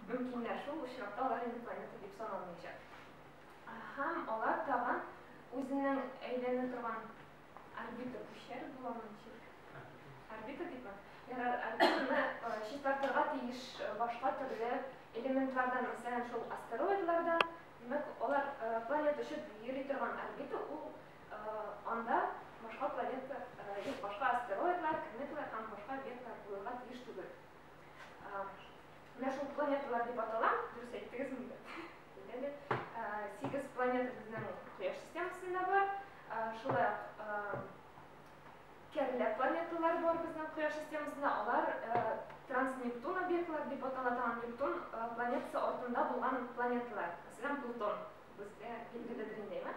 Мөмкиннәр, шул очракта алар инде планета дип саналмыйча. Һәм алар тагын үзенең әйләнә торган орбита күчәр буламы ничек? Орбита дибме? Ярар, орбитаны э, чистартырга тиеш э, башка төрле элементлардан, мәсәлән, шул астероидлардан. Димәк, алар э, планета очып йөри торган орбита, ул анда башка планета, башка астероидлар, кометалар һәм башка объектлар булырга тиеш түгел. Менә шул планеталар дип атала, дөрес әйттегез инде. Әйтәле, сигез планета безнең Кояш системасында бар. Шулай кәрлә планеталар бар безнең Кояш системасында. Алар транснептун объектлар дип атала. Транснептун планетасы артында булган планеталар. Мәсәлән, Плутон. Безгә билгеледер инде, әйме?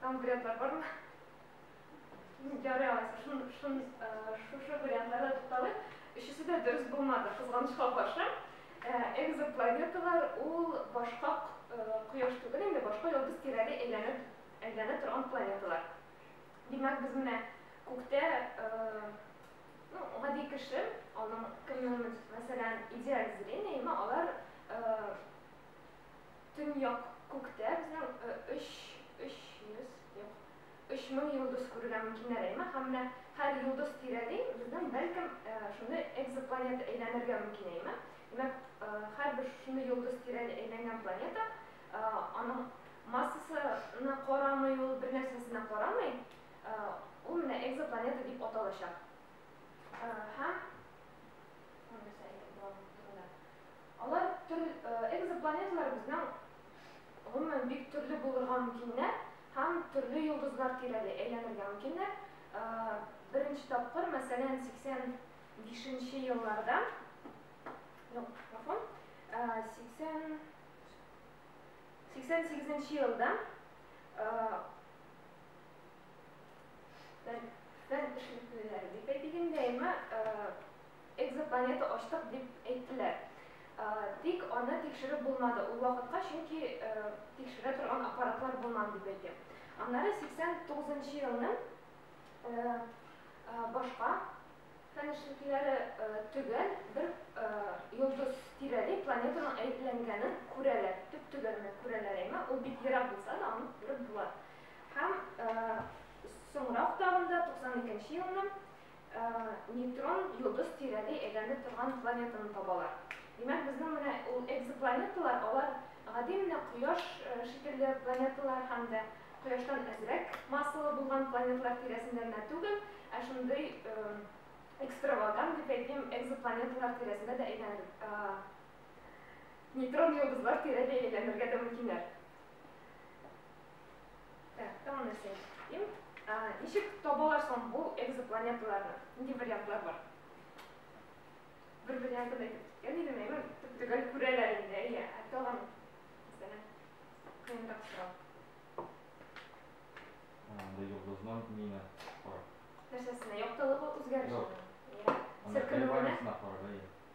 Там вариантлар бар ма? Ярый алайса, шун, шун, шушы вариантларда тукталыйк. Өчесе дә дөрес булмады, кызганычка каршы. Экзопланеталар ул башка кояш түгел, инде башка йолдыз тирәли әйләнеп, әйләнә торган планеталар. Димәк, без менә күктә, ну, гади кеше, аның кемнең, мәсәлән, идеаль зрениеме, алар Төньяк күктә безнең өч, өч йөз, юк, өч мең йолдыз күрергә мөмкиннәр әйме, һәм менә һәр йолдыз тирәли безнең, бәлкем, шундый экзопланета әйләнергә мөмкин әйме. Димәк, һәрбер шушындый йолдыз тирәли әйләнгән планета, аның массасына карамый ул, бернәрсәсенә карамый, ул менә экзопланета дип аталачак. Һәм, Алар төр экзопланеталар безнең гомумән бик төрле булырга мөмкиннәр һәм төрле йолдызлар тирәли әйләнергә мөмкиннәр. Беренче тапкыр, мәсәлән, 85 нче елларда, юк, гафу, 80 88 нче елда фән эшлеклеләре дип әйтик инде, әйме, Экзопланета ачтык дип әйттеләр. Тик аны тикшереп булмады ул вакытка, чөнки тикшерә торган аппаратлар булмады дип әйтә. Аннары 89 нчы елның башка фән эшлеклеләре төгәл бер йолдыз тирәли планетаның әепләнгәнен күрәләр. Төп-төгәл генә күрәләр әйме, ул бик ерак булса да, аны күреп була. Һәм соңрак тагын да 92 нче елның нейтрон йолдыз тирәли әйләнеп торган планетаны табалар. Димәк, безнең менә ул экзопланеталар, алар гади менә Кояш шикелле планеталар һәм дә Кояштан әзрәк массалы булган планеталар тирәсендә генә түгел, ә шундый экстравагант, дип әйтим, экзопланеталар тирәсендә дә әйләнеп, нейтрон йолдызлар тирәли әйләнергә дә мөмкиннәр. Так, тагын нәрсә эшлим? Ничек табалар соң бу экзопланеталарны? Нинди вариантлар бар? Бер варианты да әйтеп идем, әймен, төп-төгәл күрәләр инде, әйе. Ә тагын, мәсәлән, кыенрак сорау. Анда йолдызның мина карап. Нәрсәсенә? Яктылыгы үзгәреше. Селкенүенә?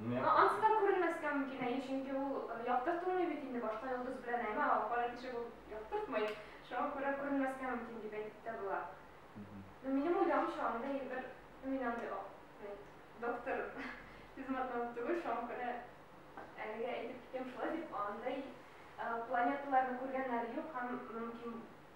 Ниңа? Ә ансы да күренмәскә мөмкин, әйе, чөнки ул яктыртылмый бит инде, башка йолдыз белән әйме, ә кара тишек ул яктыртмый, шуңа күрә күренмәскә мөмкин дип әйтеп тә була. Ну, минем уйлавымча, анда егер, ну, мин андый о, мин доктор, физматнаук түгел, шуңа күрә әлегә әйтеп китим шулай дип, андый планеталарны күргәннәре юк һәм мөмкин.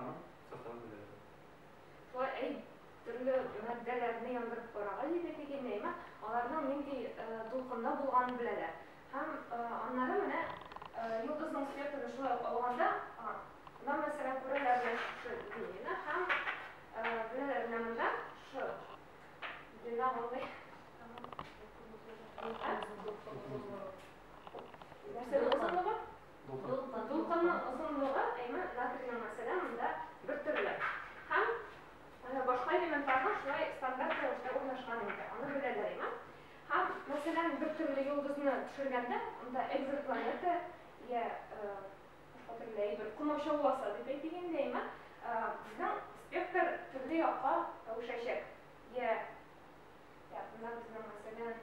Аның составын беләбез. Шулай әйт, төрле матдәләрне яндырып карагач иде теге нейма, аларның нинди дулкында булганын беләләр. Һәм аннары менә йолдызның спектрын шулай ук алганда, да мәсәлән күрәләр менә шушы линияне һәм беләләр менә монда шушы линия мондый. Нәрсәнең озынлыгы? Дулкынның озынлыгы әйме натрийның мәсәлән монда бер төрле һәм башка элементларның шулай стандарт рәвештә урнашкан инде, аны беләләр әйме. Һәм мәсәлән бер төрле йолдызны төшергәндә монда экзопланета йә башка төрле әйбер комачауласа дип әйтик инде әйме, безнең спектр төрле якка әвешәчәк йә, йә монда безнең мәсәлән,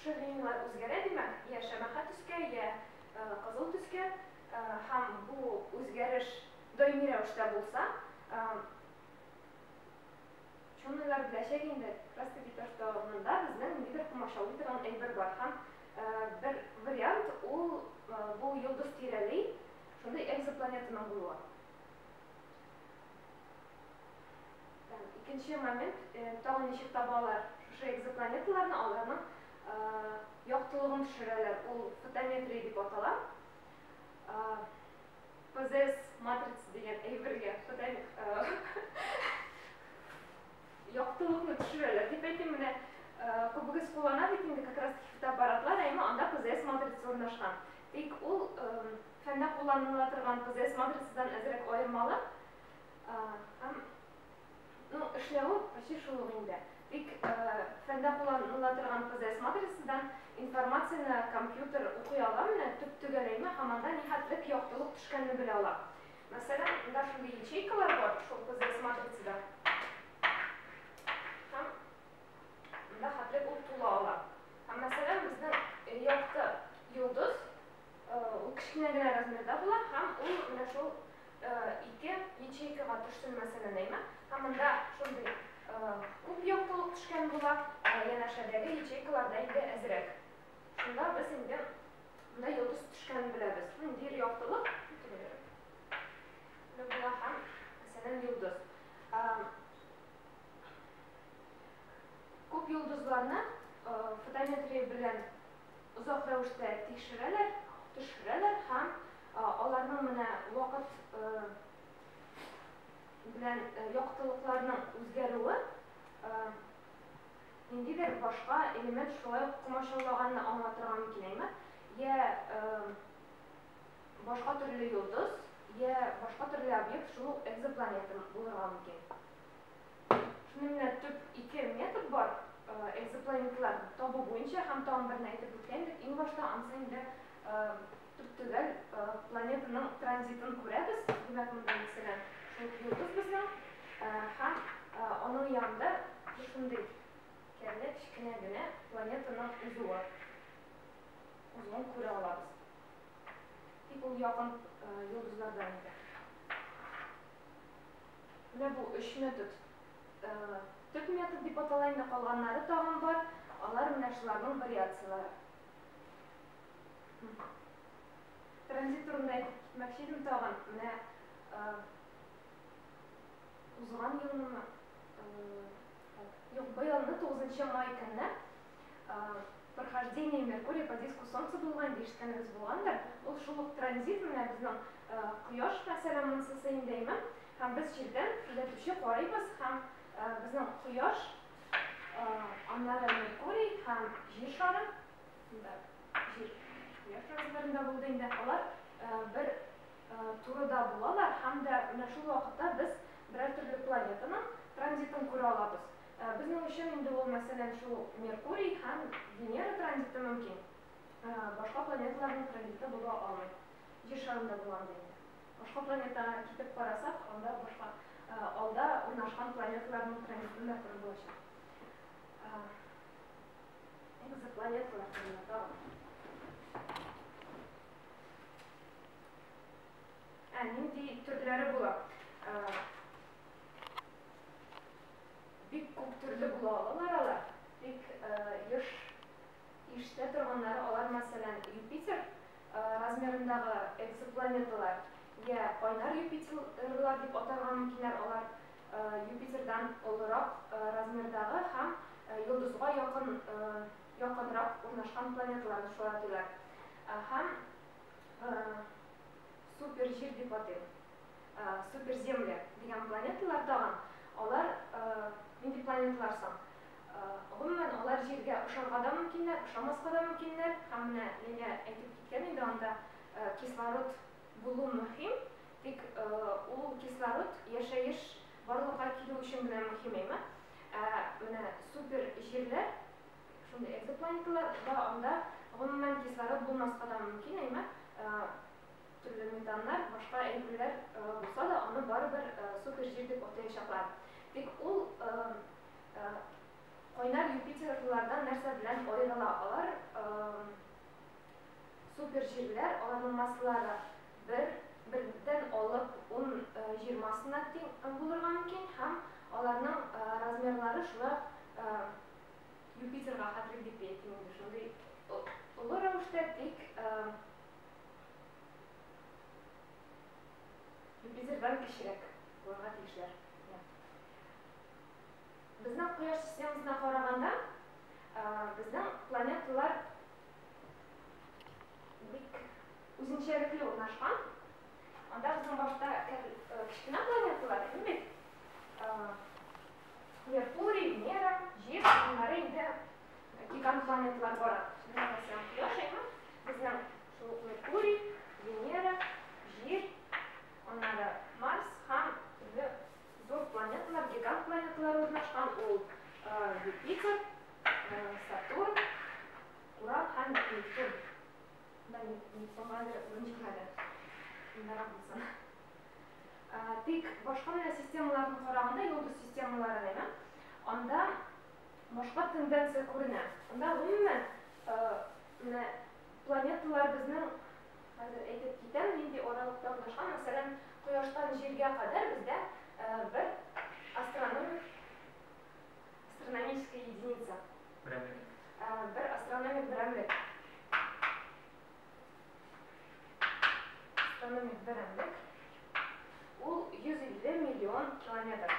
Шыринлар үзгәрә, димәк, йә шәмәхә төскә, йә кызыл төскә, һәм бу үзгәреш даими рәвештә булса, ученыйлар беләчәк инде, краска бит артыннда безнең ниндидер комачаулый торган әйбер бар, һәм бер вариант ул бу йолдыз тирәли шундый экзопланетаның булуы. Икенче момент, тагын ничек табалар шушы экзопланеталарны, аларның яктылыгын төшерәләр, ул фотометрия дип атала. ПЗС матрица дигән әйбергә яктылыкны төшерәләр дип әйтим, менә күбегез куллана бит инде как раз таки фотоаппаратлар, әйме, анда ПЗС матрица урнашкан. Тик ул фәндә кулланыла торган ПЗС матрицадан әзрәк аермалы, Һәм, ну, эшләве почти шул ук инде. Тик фәндә кулланыла торган ПЗС матрицадан информацияне компьютер укый аламыни, төп-төгәләйме һәм анда нихәтлек яктылык төшкәнне белә ала. Мәсәлән, монда шундый ячейкалар бар шул ПЗС матрицада. Һәм монда хәтлек ул тула ала. Һәм, мәсәлән, безнең якты йолдыз. Ул кечкенә генә размерда була һәм ул менә шул ике ячейкага төшсен мәсәлән әйме, һәм монда шундый күп яктылык төшкән була, янәшәдәге ячейкаларда инде әзрәк. Шунда без инде монда йолдыз төшкәнен беләбез. Ниндидер яктылык була һәм мәсәлән йолдыз. Күп йолдызларны фотометрия белән Озак рәвештә тикшерәләр, төшерәләр һәм аларның менә вакыт белән яктылыкларның үзгәрүе ниндидер башка элемент шулай ук комачаулаганны аңлатырга мөмкинәйме? Йә башка төрле йолдыз, йә башка төрле объект, шул ук экзопланета булырга мөмкин. Шуныңда төп ике метод бар, экзопланетлар табу буенча һәм тагын берне әйтеп үткән идек, иң башта анысы инде төп төгәл планетаның транзитын күрәбез, димәк, монда мәсәлән, шул йолдыз безнең һәм аның янында шушындый кәрле кечкенә генә планетаның узуы, узуын күрә алабыз. Тик ул якын йолдызлардан инде. Менә бу өч метод, төп метод дип атала инде, калганнары тагын бар, алар менә шуларның вариацияләре. Транзит турында әйтеп китмәкче идем тагын, менә узган елмы, юк, быелны 9 май көнне Прохождение Меркурия по диску Солнца булган ди, ишеткәнегез булгандыр. Ул шул ук транзит менә безнең Кояш мәсәлән, монысы Сәйндәйман. Һәм без җирдән күзәтүче карыйбыз һәм безнең Кояш, аннары Меркурий һәм Җир шары, монда Җир, Кояш транзитларында булды инде, алар бер турыда булалар һәм дә менә шул вакытта без берәр төрле планетаның транзитын күрә алабыз. Безнең өчен инде ул, мәсәлән, шул Меркурий һәм Венера транзиты мөмкин, башка планеталарның транзиты була алмый. Җир шарында була андый инде. Башка планетага китеп карасак, анда башка алда урнашкан планеталарның транзитын да күреп булачак. Экзопланеталар турында тагын. Ә нинди төрләре була? Бик күп төрле була алалар алар, тик еш ишетә торганнары алар, мәсәлән, Юпитер размерындагы экзопланеталар, йә кайнар Юпитерлар дип атарга мөмкиннәр, алар Юпитердан олырак размердагы һәм йолдызга якын, якынрак урнашкан планеталарны шулай атыйлар, һәм Суперҗир дип атый. Суперземля дигән планеталар тагын, алар нинди планеталар соң? Гомумән, алар Җиргә ошарга да мөмкиннәр, ошамаска да мөмкиннәр. Һәм менә Лилия әйтеп киткән инде, анда кислород булу мөһим, тик ул кислород яшәеш барлыкка килү өчен генә мөһим эме? Ә менә суперҗирләр, шундый экзопланеталар да, анда гомумән кислород булмаска да мөмкин эме? Төрле ментаннар, башка әйберләр булса да, аны барыбер супер җир дип атаячаклар. Тик ул кайнар Юпитерлылардан нәрсә белән аерыла? Алар супер җирләр, аларның массалары бер, бердән алып ун, җирмасына тиң булырга мөмкин һәм аларның размерлары шулай ук Юпитерга хәтле дип әйтим инде, шундый олы рәвештә, тик Юпитердан кечерәк булырга тиешләр. Безнең Кояш системасына караганда, безнең планеталар бик үзенчәлекле урнашкан. Анда безнең башта кечкенә планеталар иде бит. Меркурий, Венера, Җир, аннары инде гигант планеталар бара. Менә Кояш, әйме? Безнең шул ук Меркурий, Венера, Җир, аннары Марс һәм төрле зур планеталар, гигант планеталар урнашкан, ул Юпитер, Сатурн, Урал һәм Нептун. Монда Нептунга әле урын җитмәде. Мондарак булсын. Тик башка менә системаларны караганда, йолдыз системалары менә, анда башка тенденция күренә. Анда гомумән Менә планеталар безнең, хәзер әйтеп китәм, нинди аралыкта урнашкан, мәсәлән, Кояштан Җиргә кадәр бездә бер астрономик, астрономическая единица. Берәмлек. Бер астрономик берәмлек. Астрономик берәмлек. Ул 150 миллион километр.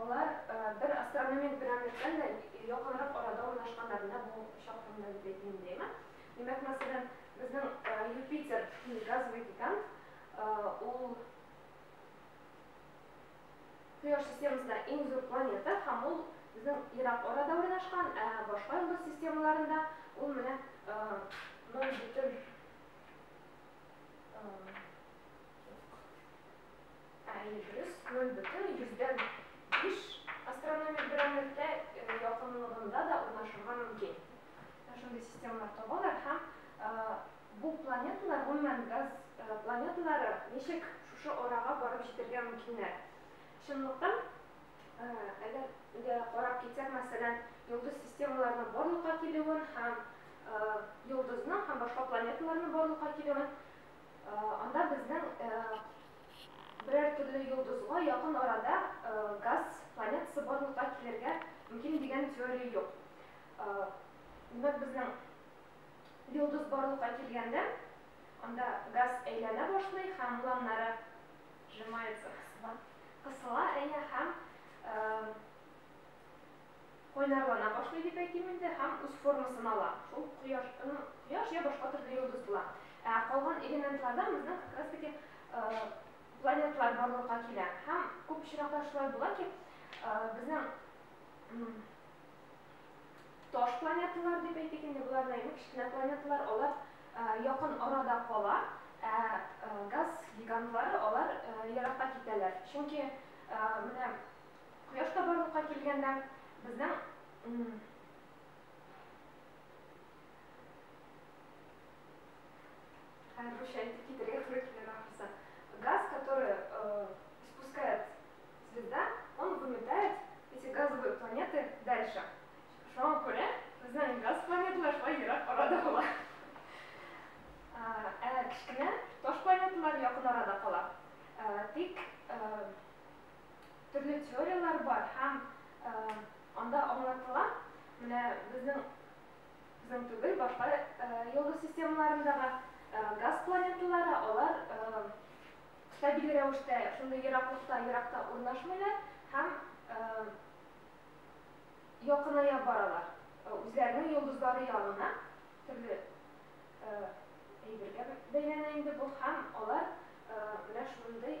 Алар бер астрономик берәмлектән дә якынрак арада урнашканнар, менә бу чак турында дип әйтмим, димме? Димәк, мәсәлән, безнең Юпитер, газовый гигант, ул Кояш системасындагы иң зур планета һәм ул безнең ерак арада урнашкан, ә башка йолдыз системаларында ул менә ноль бөтен Ә Эльбрус аның бөтен йөздән биш астрономик берәмлектә якынлыгында да урнашырга мөмкин. Менә шундый системалар табалар һәм бу планеталар, гомумән, газ планеталары ничек шушы арага барып җитәргә мөмкиннәр? Чынлыктан, әгәр дә карап китсәк, мәсәлән, йолдыз системаларының барлыкка килүен һәм йолдызның һәм башка планеталарның барлыкка килүен, Анда безнең берәр төрле йолдызга якын арада газ планетасы барлыкка килергә мөмкин дигән теория юк. Димәк, безнең йолдыз барлыкка килгәндә, анда газ әйләнә башлый һәм планнары сжимается, кысыла, кысыла, әйе, һәм кайнарлана башлый дип әйтим инде, һәм үз формасын ала. Шул кояш, кояш йә башка төрле йолдыз була. Ә калган элементлардан безнең как раз таки планеталар барлыкка килә. Һәм күп очракта шулай була ки, безнең таш планеталар дип әйтик инде, болар да инде кечкенә планеталар, алар якын арада кала, ә газ гигантлары алар еракка китәләр. Чөнки менә Кояш та барлыкка килгәндә, безнең Хәзер русча әйтеп китәргә туры килер ахрысы. Газ, который э, испускает звезда, он выметает эти газовые планеты дальше. Шуңа күрә безнең газ планеталар шулай ерак арада була. Ә кечкенә таш планеталар якын арада кала. Тик төрле теорияләр бар һәм анда аңлатыла, менә безнең безнең түгел, башка йолдыз системаларындагы газ планеталары, алар стабиль рәвештә шундый ераклыкта, еракта урнашмыйлар һәм якыная баралар үзләренең йолдызлары ягына, төрле әйбергә бәйләнә инде бу, һәм алар менә шундый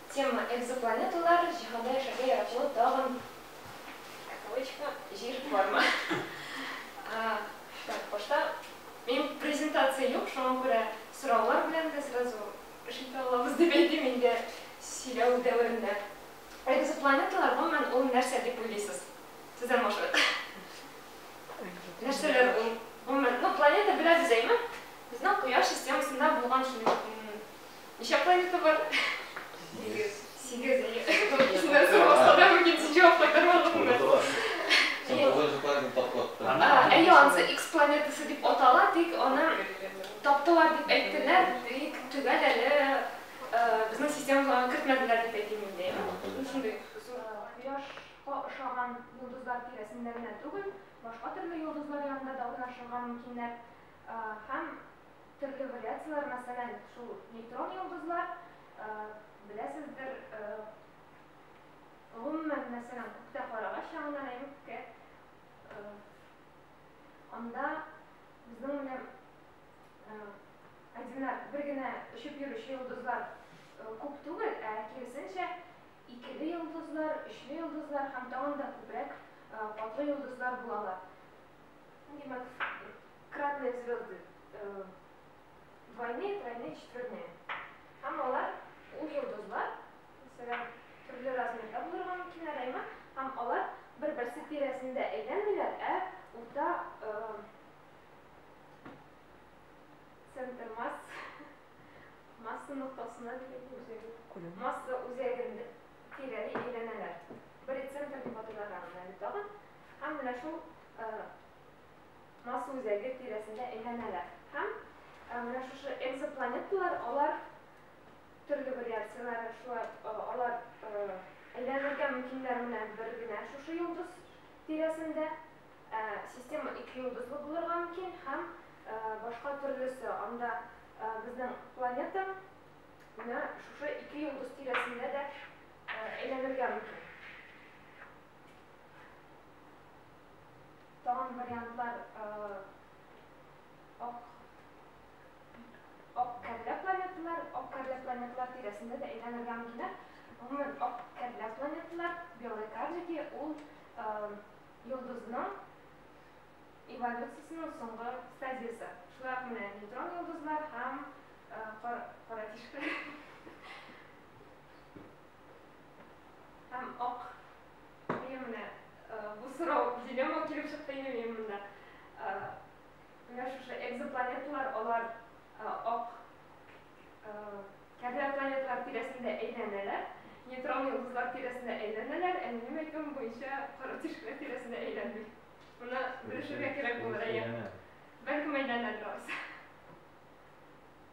Тема, Экзопланеталар, җиһанда яшәргә яраклы тагын кавычка, җир бармы? Так, башта мин презентация юк, шуңа күрә сораулар белән дә сразу эш итә алабыз дип әйтим инде сөйләү дәверендә. Экзопланеталар, гомумән, ул нәрсә дип уйлыйсыз? Сездән башлыйк. Нәрсәләр ул? Гомумән, ну планета беләбез, әйме? Безнең Кояш системасында булган Ничә планета бар? Сигез. Сигез, әйе. Икесеннән соң басса да мөмкин, син җавап кайтарып алдың да. Син тугызынчы планетаны тапкыр аттың. Әйе, анысы X планетасы дип атала, тик аны таптылар дип әйттеләр, тик төгәл әле безнең системага аны кертмәделәр дип әйтим инде. Ул шундый зур. Кояшка ошаган йолдызлар тирәсендә генә түгел, башка төрле йолдызлар янында да урнашырга мөмкиннәр һәм Төрле вариацияләр, мәсәлән, шул нейтрон йолдызлар, беләсездер, гомумән, мәсәлән, күктә карагач янына нәмиккә, анда безнең белән одинар, бер генә очып йөрүче йолдызлар күп түгел, ә киресенчә, икеле йолдызлар, өчле йолдызлар һәм тагын да күбрәк катлы йолдызлар булалар. Ну, димәк, кратные звезды э, двойные, тройные, четверные. Һәм алар, ул йолдызлар, мәсәлән, төрле размерда булырга мөмкин әләйме, һәм алар бер-берсе тирәсендә әйләнмиләр, ә урта э, центр масс, масса ноктасына дигән масса үзәгендә тирәли әйләнәләр. Бер центр дип атыйлар аны әле тагын. Һәм менә шул Марс үзәге тирәсендә әйләнәләр. Һәм менә шушы экзопланеталар, алар төрле вариацияләре, шулай алар әйләнергә мөмкиннәр менә бер генә шушы йолдыз тирәсендә. Система ике йолдызлы булырга мөмкин һәм башка төрлесе. Анда безнең планета менә шушы ике йолдыз тирәсендә дә әйләнергә мөмкин. Тагын вариантлар ак ак кәрлә планеталар, ак кәрлә планеталар тирәсендә дә әйләнергә мөмкин. Гомумән, ак кәрлә планеталар, белые карлики, ул йолдызның эволюциясенең соңгы стадиясе. Шулай ук менә нейтрон йолдызлар һәм кара тишек. Һәм ак Мием менә э, бу сорау дилемма килеп чыкты инде минем монда. Э, менә шушы экзопланеталар алар э, ак кәрлә планеталар тирәсендә әйләнәләр, нейтрон йолдызлар тирәсендә әйләнәләр, ә минем әйтүем буенча коры тишекләр тирәсендә әйләнми. Моны белешергә кирәк булыр, әйе. Бәлкем әйләнәдер алайса.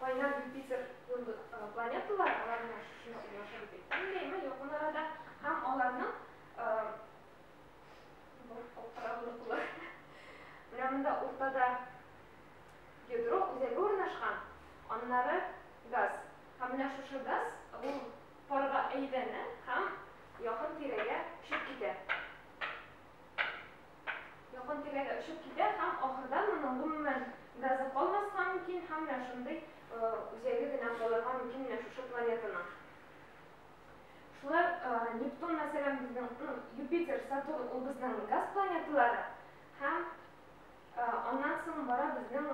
Кайнар Юпитер кебек планеталар алар белән шушы мисал яшәр иде. Күңеллеме якын арада һәм аларның бу алкара молекулы менә монда уртада ядро үзәге урнашкан, аннары газ. Һәм менә шушы газ ул парга әйләнә һәм якын тирәгә очып китә. Якын тирәгә очып китә һәм ахырдан моның гомумән газы калмаска мөмкин һәм менә шундый үзәге генә калырга мөмкин менә шушы планетаның. Шулай ук Нептун, мәсәлән, безнең, ну, Юпитер, Сатурн, ул безнең газ планеталары һәм аннан соң бара безнең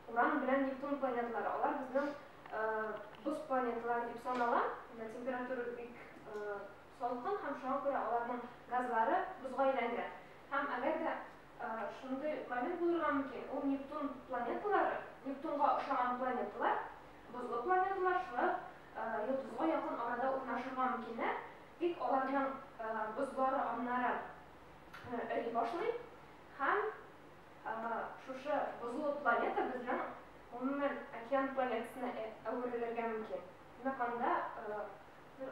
Уран белән Нептун планеталары. Алар безнең боз планеталары дип санала, температурасы бик Салкын һәм шуңа күрә аларның газлары бозга әйләнгән. Һәм әгәр дә шундый момент булырга мөмкин, ул Нептун планеталары, Нептунга ошаган планеталар, бозлы планеталар шулай ук йолдызга якын арада урнашырга мөмкиннәр, тик аларның бозлары аннары эри башлый һәм шушы бозлы планета безнең гомумән океан планетасына әверелергә мөмкин. Димәк, анда бер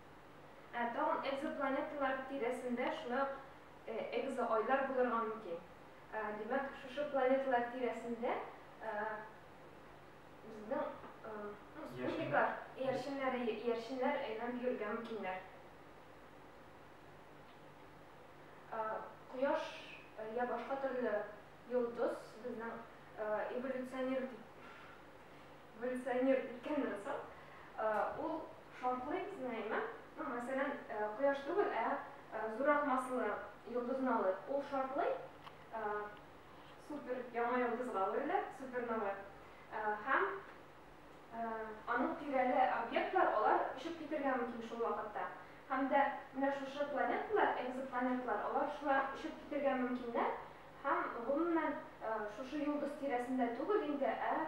Ә тагын экзопланеталар тирәсендә шулай ук экзоайлар булырга мөмкин. Димәк, шушы планеталар тирәсендә безнең спутниклар, иярченнәр, иярченнәр әйләнеп йөрергә мөмкиннәр. Кояш я башка төрле йолдыз безнең эволюционер Эволюционер икәнен соң ул шартлый сеңәйме? Ну, мәсәлән, Кояш түгел, ә зуррак массалы йолдызны алыйк. Ул шартлый, супер яңа йолдызга әверелә, супернова, һәм аның тирәле объектлар, алар очып китергә мөмкин шул вакытта. Һәм дә менә шушы планеталар, экзопланеталар, алар шулай ук очып китергә мөмкиннәр һәм, гомумән, шушы йолдыз тирәсендә түгел инде, ә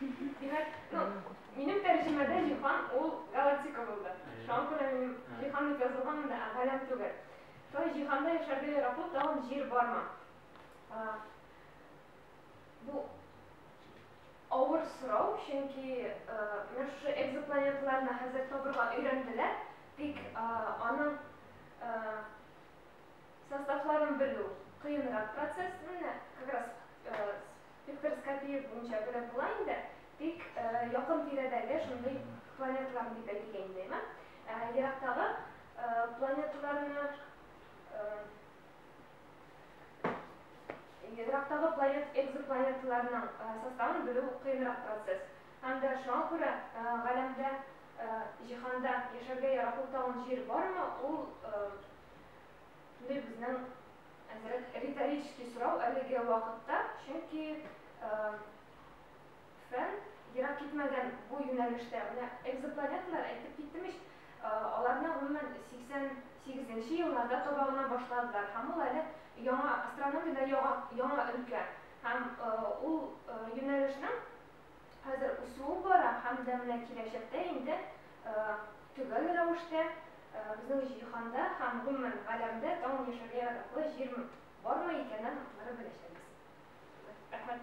Димәк, ну, минем тәрҗемәдә җиһан ул галактика булды. Шуңа күрә минем җиһан дип язылган монда, ә галәм түгел. Шулай җиһанда яшәргә яраклы тагын җир бармы? Бу авыр сорау, чөнки менә шушы экзопланеталарны хәзер табырга өйрәнделәр, тик аның составларын белү кыенрак процесс. Менә как раз Виктор Скобеев буенча гына була инде, тик якын тирәдәге шундый планеталарны дип әйтик инде, әйеме? Ерактагы планеталарны Ерактагы планет экзопланеталарның составын белү кыенрак процесс. Һәм дә шуңа күрә галәмдә, җиһанда яшәргә яраклы тагын җир бармы, ул шундый безнең Әзрәк риторический сорау әлеге вакытта, чөнки фән ерак китмәгән бу юнәлештә, менә экзопланеталар, әйтеп киттем ич, аларны гомумән 88 нче елларда таба гына башладылар һәм ул әле яңа, астрономиядә яңа өлкә һәм ул юнәлешнең хәзер үсүе бара һәм дә менә киләчәктә инде төгәл рәвештә безнең җиһанда һәм гомумән галәмдә тагын яшәргә яраклы җир бармы икәнен аннары беләчәкбез. Рәхмәт.